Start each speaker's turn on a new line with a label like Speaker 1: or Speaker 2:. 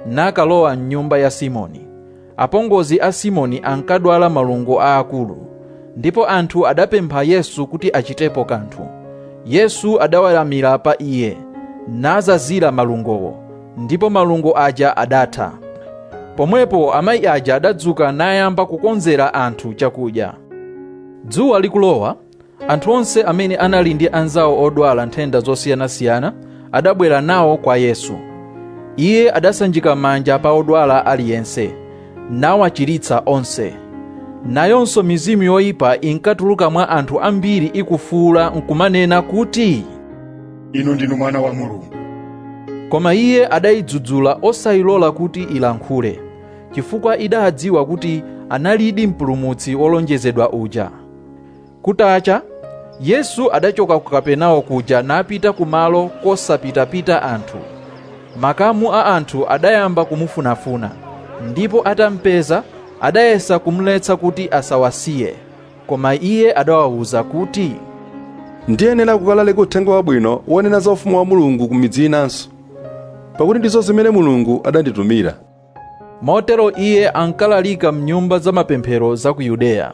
Speaker 1: nakalowa m'nyumba ya simoni apongozi a simoni ankadwala malungo aakulu ndipo anthu adapempha yesu kuti achitepo kanthu yesu adaweramira pa iye nazazira malungowo ndipo malungo aja adatha. Pomwepo amayi aja adadzuka nayamba kukonzera anthu chakudya. Dzuwa likulowa, anthu onse amene anali ndi anzawo odwala nthenda zosiyanasiyana adabwera nawo kwa Yesu. Iye adasanjika manja pa odwala aliyense, nawachiritsa onse. Nayonso mizimu yoyipa inkatuluka mwa anthu ambiri ikufuula nkumanena kuti, inu
Speaker 2: ndinu mwana wa mulungu koma
Speaker 1: iye adayidzudzula osayilola kuti ilankhule chifukwa idaadziwa kuti analidi mpulumutsi wolonjezedwa uja kutacha yesu adachoka ku kapenawo kuja napita kumalo kosapitapita anthu makamu a anthu adayamba kumufunafuna ndipo atampeza adayesa kumletsa kuti asawasiye Koma iye adawauza kuti, Ndiyenera
Speaker 3: kukalalika uthenga wabwino wonena za ufumu wa Mulungu ku midzi inanso, pakuti ndizo zimene Mulungu adanditumira.
Speaker 1: Motero iye ankalalika m'nyumba za mapemphero za ku Yudeya.